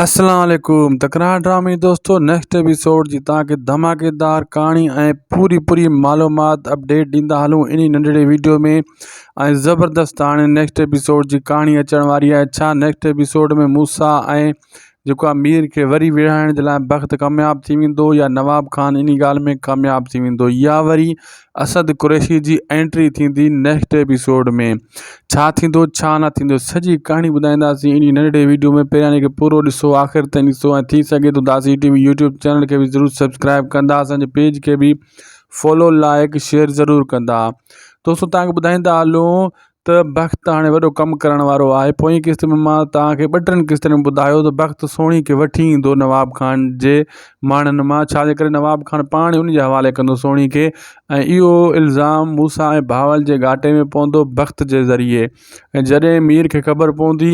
اسلام عليڪم تڪرار ڊرامي دوستو نيڪسٽ ايپيسوڊ جي تان کي ڌماڪيدار ڪھاڻي ۽ پوري پوري معلومات اپڊيٽ ڏيندا ھلون انھي ننڍڙي ويڊيو ۾ ۽ زبردست ھاڻي نيڪسٽ ايپيسوڊ جي ڪھاڻي اچڻ واري آھي ڇا نيڪسٽ ايپيسوڊ ۾ موسيٰ ۽ جيڪو آھي مير کي وري ويڙھائڻ جي لاء بخت ڪامياب ٿي ويندو يا نواب خان انھي ڳالھ ۾ ڪامياب ٿي ويندو يا وري اسد قريشي جي انٽري ٿيندي نيڪسٽ ايپيسوڊ ۾ ڇا ٿيندو ڇا نه ٿيندو سڄي ڪهاڻي ٻڌائينداسين انهي ننڍڙي ويڊيو ۾ پهريان ان کي پورو ڏسو آخر تائين ڏسو ۽ ٿي سگهي ٿو داسي ٽي وي يوٽيوب چينل کي به ضرور سبسڪرائب ڪندا اسانجي پيج کي به فالو لائڪ شيئر ضرور ڪندا دوستو تانکي ٻڌائيندا هلون ته بخت هاڻي وڏو ڪم ڪرڻ وارو آهي پوئين قسط ۾ مان توهان کي ٻه ٽن قسطن ۾ ٻڌايو ته بخت سهڻي کي وٺي ايندو نواب خان جي ماڻهن مان ڇا جي ڪري نواب خان پاڻ ئي ان جي حوالي ڪندو سهڻي کي ۽ اهو الزام موسيٰ ۽ بهاول جي گهاٽي ۾ پوندو بخت جي ذريعي ۽ جڏهن مير کي خبر پوندي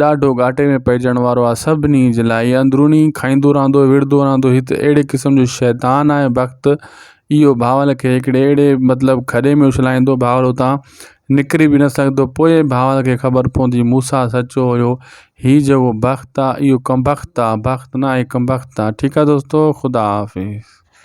ڏاڍو گهاٽي ۾ پئجڻ وارو آ سڀني جي لاء اي اندروني کائيندو رهندو وڙهندو رهندو هي ته اهڙي قسم جو شيطان آهي بخت اهو ڀانئل کي هڪڙي اهڙي مطلب کڏي ۾ اڇلائيندو ڀانئل اتاں نڪري به نه سگهندو پوء ڀانئل کي خبر پوندي موسيٰ سچو هيو هي جهڙو بخت آ اهو ڪمبخت آ بخت ناهي ڪمبخت آ ٺيڪ آ دوستو خدا حافظ.